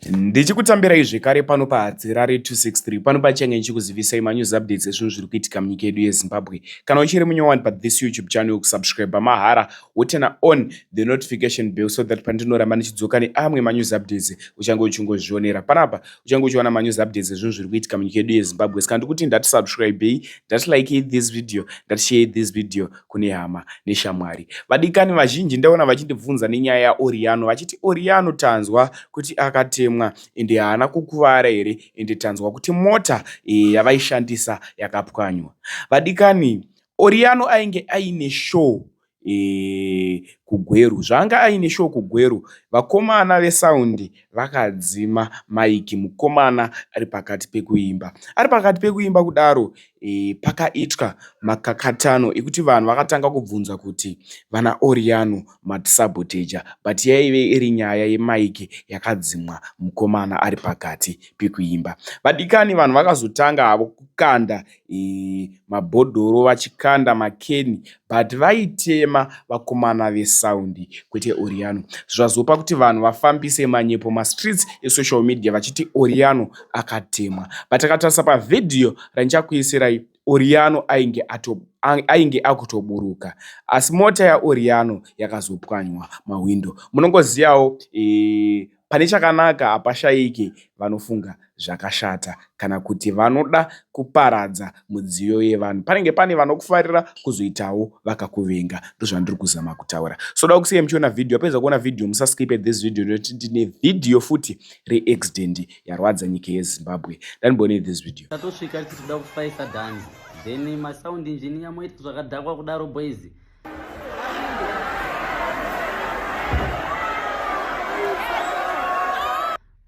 ndichikutambirai zvekare pano pahadzirare 263 pano pachange ndichikuzivisai manews updates ezvinhu zviri kuitika munyika yedu yezimbabwe kana uchiri munyowani pathis youtube channel kusubscribe mahara wotena on the notification bell so that pandinoramba ndichidzoka neamwe manews updates uchange uchingozvionera panapa uchange uchiona manews updates ezvinhu zviri kuitika munyika yedu yezimbabwe saka ndikuti ndatisubscribei ndatilikei this video ndatisheyei this video kune hama neshamwari. Vadikani vazhinji ndaona vachindibvunza nenyaya yaOriano vachiti Oriano tanzwa kuti akatemwa ende haana kukuvara here ende tanzwa kuti mota eh, yavaishandisa yakapwanywa. Vadikani, Oriano ainge aine show eh, kuGweru. Zvaanga aine show kuGweru, vakomana vesaundi Vakadzima mic mukomana ari pakati pekuimba. Ari pakati pekuimba kudaro pakaitwa makakatanwa ekuti vanhu vakatanga kubvunza kuti vana Oriyano matisaboteja but yaive iri nyaya ye mic yakadzimwa mukomana ari pakati pekuimba. Vadikani vanhu vakazotanga havo kukanda mabhodhoro vachikanda makeni but vaitema vakomana vesound kwete Oriyano. Zvazopa kuti vanhu vafambise manyepo mastreets esocial media vachiti Oriyano akatemwa but takatarisa pavhidhiyo randichakuisirai Oriyano ainge ato ainge akutoburuka asi mota yaOriyano yakazopwanywa mahwindo munongoziyawo Pane chakanaka hapashayiki vanofunga zvakashata kana kuti vanoda kuparadza mudziyo yevanhu. Panenge pane vanokufarira kuzoitawo vakakuvenga. Ndozvandiri kuzama kutaura. So da kusiya muchiona video. Apedza kuona video musa skip at this video nekuti ndine video futi re accident yarwadza nyika yeZimbabwe. Dani bone this video. Tatosvika tikuda kufaisa Dani. Then ma sound engineer moita zvakadhakwa kudaro boys.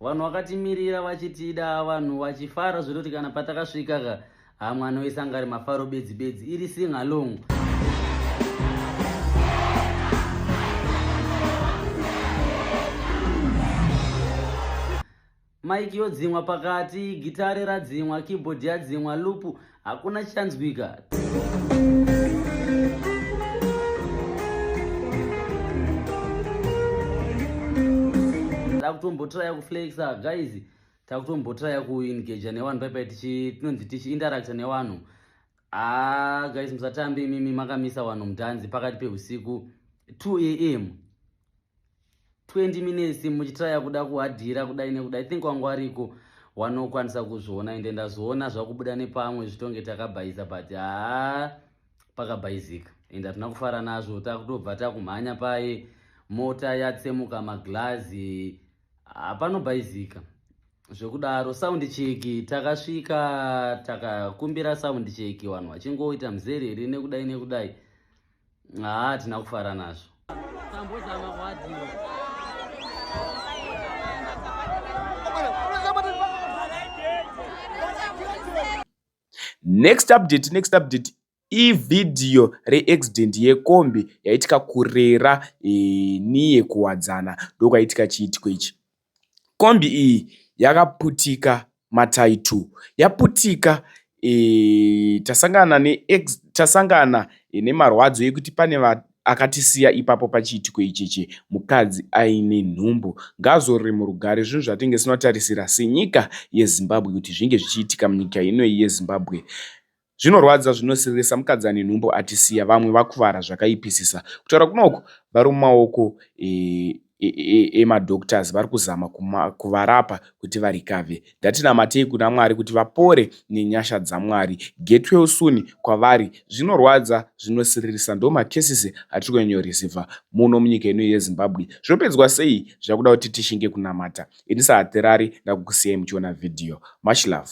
vanhu vakatimirira vachitida vanhu vachifara zvekuti kana patakasvika ka hamwe anoisa ngari mafaro bedzi bedzi iri singalong Mike yodzimwa pakati, gitare radzimwa, keyboard yadzimwa, loop hakuna chichanzwika. Takutombotraya kuflexa guys, takutombotraya kuengager nevanhu paipai tichi tinonzi tichi interactor nevanhu. Ah guys musatambe imimi makamisa vanhu mudhanzi pakati pehusiku 2 am 20 minutes muchitraya kuda kuhadhira kudai nekuda i think wangu ariko wanokwanisa kuzviona ende ndazviona zvakubuda nepamwe zvitonge takabhaiza but haa pakabhaizika ende hatina kufara nazvo takutobva takumhanya paye mota yatsemuka maglazi hapanobhaizika zvekudaro sound cheki takasvika takakumbira sound cheki vanhu vachingoita muzerere nekudai nekudai haa hatina kufara nazvo next update next update ivhidhiyo reaccident yekombi yaitika kurera e, niye kuwadzana ndokwaitika chiitiko ichi Kombi iyi yakaputika matayi two. Yaputika tasangana nemarwadzo ekuti pane akatisiya ipapo pachiitiko ichi chemukadzi aine nhumbu. Ngaazorore murugare zvinhu zvatinenge tisina kutarisira senyika yeZimbabwe kuti zvinge zvichiitika munyika ino yeZimbabwe. Zvinorwadza zvinosiririsa mukadzi ane nhumbu atisiya vamwe vakuvara zvakaipisisa kutaura kunoku vari mumaoko emadoctors vari kuzama kuvarapa kuti varikave ndatinamatei kuna mwari kuti vapore nenyasha dzamwari get well soon kwavari zvinorwadza zvinosiririsa ndo makesisi atiri kunyanyorisiva muno munyika ino yezimbabwe zvopedzwa sei zvakuda kuti tishinge kunamata ini sahaterari ndakukusiyai muchiona video much love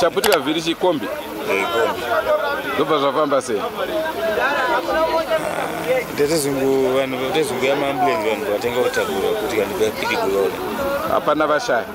chaputika vhiri chikombi eh, ndobva zvafamba sei ndetezungu vanhu ndetezungu yamaambulensi vanhu vatenga kutakura kuti vanhu vapidigurona hapana vashaya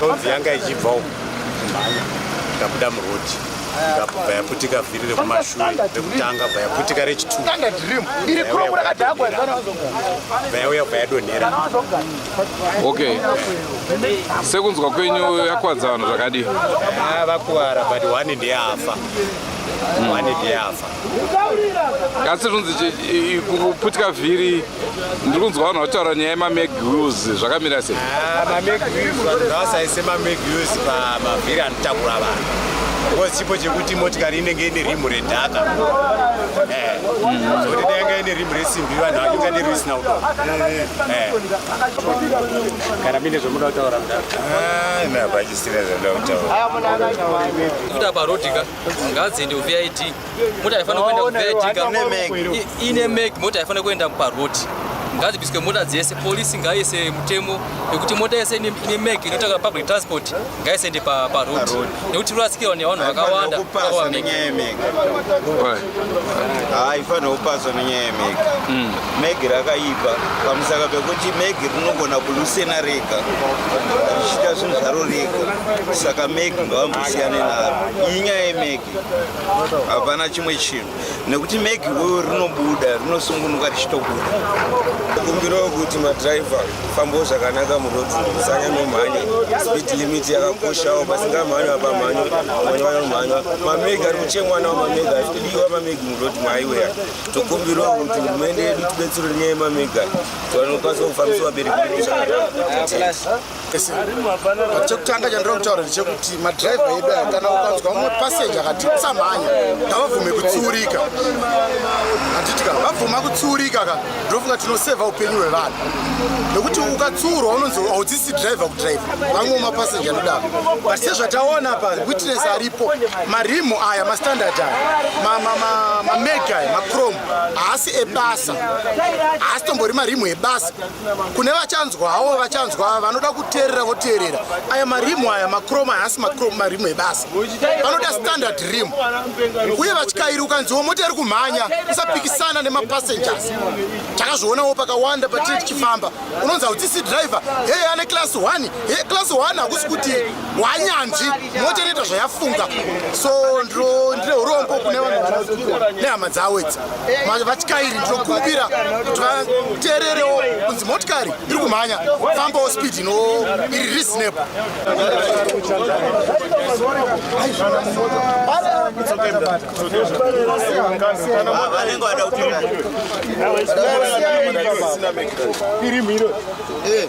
Kaudzi yanga ichibva uko. Mhanya. Tabuda muroti. ikabva bva yaputika vhiri rekumashure rekutanga bva yaputika rechitu bva yauya bva yadonhera okay sekunzwa kwenyu yakwadza vanhu zvakadii ah, vakuvara but one ndeyafa hmm. one ndeyafa asi zvinonzi kuputika vhiri ndiri kunzwa vanhu vataura nyaya yemameg us zvakamira sei ah, mameg us vanhu ngavasaise mameg us pamavhiri anotakura vanhu bcause chipo chekuti motikari inenge ine rimu redhaka eh, zvokuti dai yanga ine rimu resimbi vanhu vakinga ne risina kudo eh. kana mine zvomuda kutaura mudaaapachisina ah, zvomuda kutaura kuti apa rodika ngadziende kuvit mota haifanira kuenda kuvertical ine make mota haifanira kuenda paroad ngadzibiswe mota dzese polisi ngaise mutemo nekuti mota yese ine mek inotanga public transport ngaisaende paroad nekuti rurasikirwa nevanhu vakawanda haifanira kupaswa nenyaya yemek hmm. meg rakaipa pamusaka pekuti meg rinogona kulusena rega richiita zvinhu zvaro rega saka meg ngavambosiyane naro iyi nyaya yemek hapana chimwe chinhu nekuti megi uyo rinobuda rinosungunuka richitobuda kumbiro kuti madriver fambo zvakanaka muroad musanya nomhanya speed limit yakakoshawo pasingamhanywa pamhanyo mhanywa nomhanywa mamegi ari kuchemwa nawo mamegi ari kudiwa mamegi muroad maiweya tokumbiro kuti hurumende yedu tibetsero nenyaya yemamega tiwanokwanisa kufambisa vabereki zvakanaka chekutanga chandiri kutaura ndechekuti madriver edu aya kana ukanzwa umwe passenger akati usamhanya ngavabvume kutsiurika handiti ka vabvuma kutsiurika ka ndinofunga tinoseva upenyu hwevanhu nekuti ukatsiurwa unonzi haudzisi driver kudriver vamwe mapassenger anodaro but sezvataona pa witness aripo marimu aya mastandard aya mamega aya macrom haasi ebasa haasi tombori marimu ebasa kune vachanzwawo vachanzwa vanoda kuteerera voteerera aya marimu aya macrom haasi macrom marimu ebasa vanoda standard rim uye vatyairi ukanziwo mota iri kumhanya usapikisana nemapassengers takazvionawo pakawanda patiri tichifamba unonzi haudzisi driver heye ane class 1 he class 1 hakusi kuti wanyanzvi mota inoita zvayafunga so ndine urombo kune vanhu nehama dzawo idzi vatyairi ndinokumbira kuti vateererewo kunzi motikari iri kumhanya fambawo speed ino iri reasonable iri mhiro eh.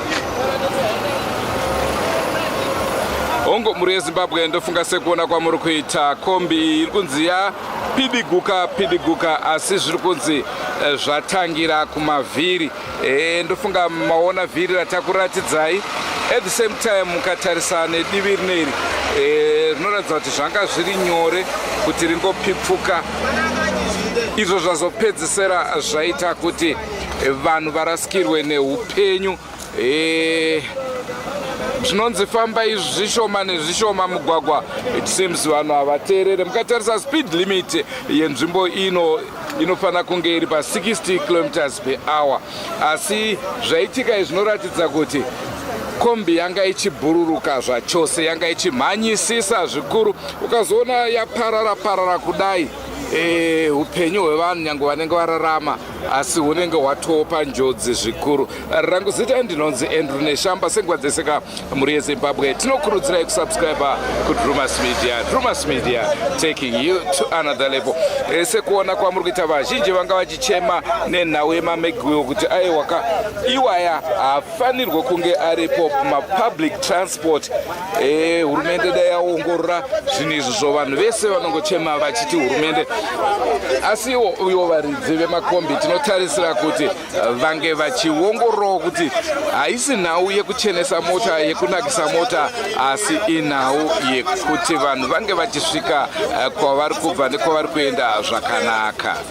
hongu mhuri yezimbabwe ndofunga sekuona kwamuri kuita kombi iyi iri kunzi ya pidiguka pidiguka asi zviri kunzi eh, zvatangira kumavhiri e, ndofunga maona vhiri ratakuratidzai at the same time mukatarisa nedivi rineri eh, rinoratidza e, kuti zvanga zviri nyore kuti ringopipfuka izvo zvazopedzisira zvaita kuti vanhu varasikirwe neupenyu eh, zvinonzi fambai zvishoma nezvishoma mugwagwa it seems vanhu havateerere mukatarisa speed limit yenzvimbo ino inofanira kunge iri pa 60 kilometers per hour asi zvaitika zvinoratidza kuti kombi yanga ichibhururuka zvachose yanga ichimhanyisisa zvikuru ukazoona yaparara parara kudai eh, upenyu hwevanhu nyange vanenge vararama asi unenge watopa njodzi zvikuru rangu zita ndinonzi andrew neshamba sengwa dzese ka mhuri yezimbabwe tinokurudzirai kusubscriba kudrumas media drumas media taking you to another level eh, sekuona kwamuri kuita vazhinji vanga vachichema nenhau yemamegwiwo kuti aiwaka iwaya fanirwe kunge aripo mapublic transport eh, hurumende e, dai yaongorora zvinhu izvi zvo vanhu vese vanongochema vachiti hurumende asi iwo uyo varidzi vemakombi tinotarisira kuti eh, vange vachiongororawo kuti haisi nhau yekuchenesa mota yekunakisa mota asi inhau yekuti vanhu vange vachisvika eh, kwavari kubva nekwavari kuenda zvakanaka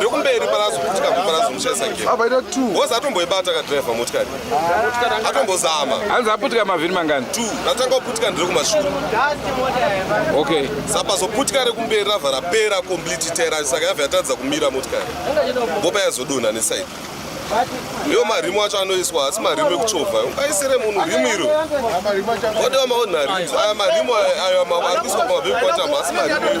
rekumberi parazokutika kuparazomuchaisa gere apaita t bhozi atomboibata kadriver motikari atombozama hanzi aputika mavhiri mangani t ratanga kuputika ndiri kumashure okay sapazoputika rekumberi rava rapera complete tera saka yava yatadza kumira motikari bopa yazodonha nesaidi ndiwo marimu acho anoiswa asi marimu ekuchovha ungaisire munhu rimu iro odewa maonarims aya marimu ayo ari kuiswa pamavekwatama asi marimu iri